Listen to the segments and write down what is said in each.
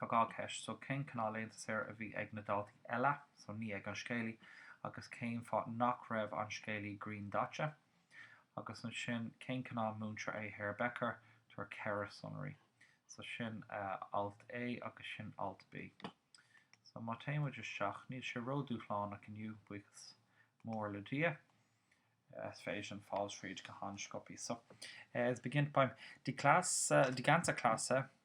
Tá dhá cheist, so cén cineál laethanta saoire a bhí ag na daltaí eile, so ní ag an scéalaí, agus cén fáth nach raibh an scéalaí griandaite? Agus ansin, cén cineál múinteoir é Herr Becker? Tabhair ceithre sonraí. So sin alt A agus sin alt B. So má téann muid isteach, níl sé ródhúshlánach inniu, buíochas mór le Dia. Is féidir linn fáil tríd go han-sciopthaí. So, es beginnt beim die, die ganze Klasse.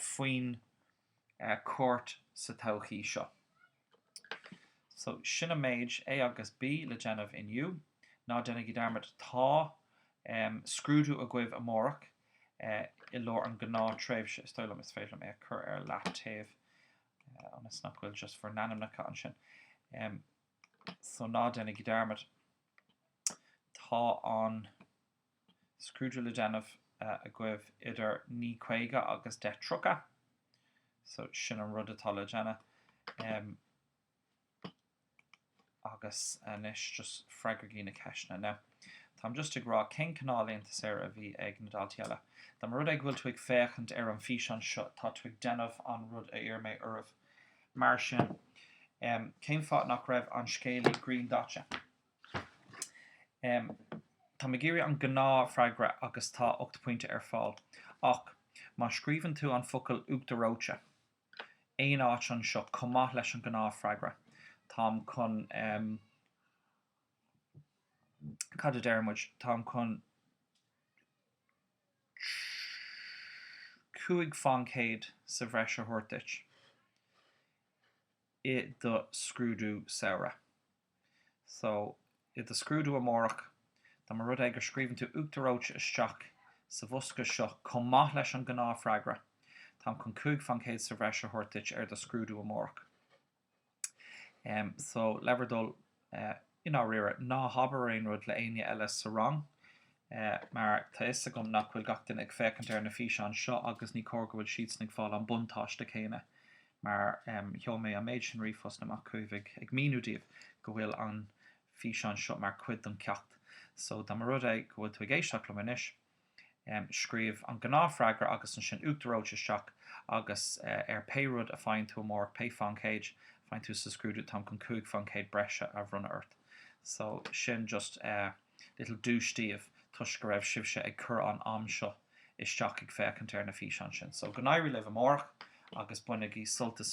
faoin chuairt sa todhchaí seo. So, sin an méid, A agus B, le déanamh inniu. Ná déanaigí dearmad, tá scrúdú agaibh amárach i lár an gnáth tréimhse. Is dóigh liom is féidir liom é a chur ar leataobh ionas nach bhfuil just bhur n-ainmneacha ansin. So, ná déanaigí dearmad, tá an scrúdú le déanamh agaibh idir naoi caoga agus deich tríocha so sin an rud atá le déanamh em agus anois just freagraigí na ceisteanna now táim just ag rá cén cineál laethanta saoire a bhí ag na daltaí eile Dá mba rud é go bhfuil tú ag féachaint ar an físeán seo tá tú ag déanamh an rud a iarr mé oraibh mar sin em cén fáth nach raibh an scéalaí griandaite? Táim ag iarraidh an gnáthfhreagra agus tá 8 bpointe ar fáil. Ach má scríobhann tú an focal uachtar reoite aon áit anseo chomh maith leis an ngnáthfhreagra, táim chun, cad a deir muid, táim chun 5 faoin gcéad sa bhreis a thabhairt duit i do scrúdú samhraidh. So, i do scrúdú amárach, dá mba rud é go scríobhann tú uachtar reoite isteach sa bhosca seo chomh maith leis an ngnáthfhreagra, táim chun cúig faoin gcéad sa bhreis a thabhairt duit ar do scrúdú amárach. Em, so, le bhur dtoil, eh, i ndáiríre, ná habair aon rud le éinne eile sa rang, eh, mar tá fhios agam nach bhfuil gach duine ag féachaint ar na físeáin seo agus ní cóir go bhfuil siadsan ag fáil an buntáiste céanna, mar sheol mé an méid sin ríomhphost amach chugaibh ag míniú daoibh go bhfuil an físeán seo mar chuid den cheacht. So, dá mba rud é go bhfuil tú ag éisteacht liom anois, scríobh an gnáthfhreagra agus ansin uachtar reoite isteach agus ar pé rud a faigheann tú amárach, pé faoin gcéad a faigheann tú sa scrúdú, táim chun cúig faoin gcéad breise a bhronnadh ort. So, sin just eh. Little duais daoibh toisc go raibh sibhse ag cur an am seo isteach ag féachaint ar na físeáin sin. So go n-éirí libh amárach agus bainigí sult as.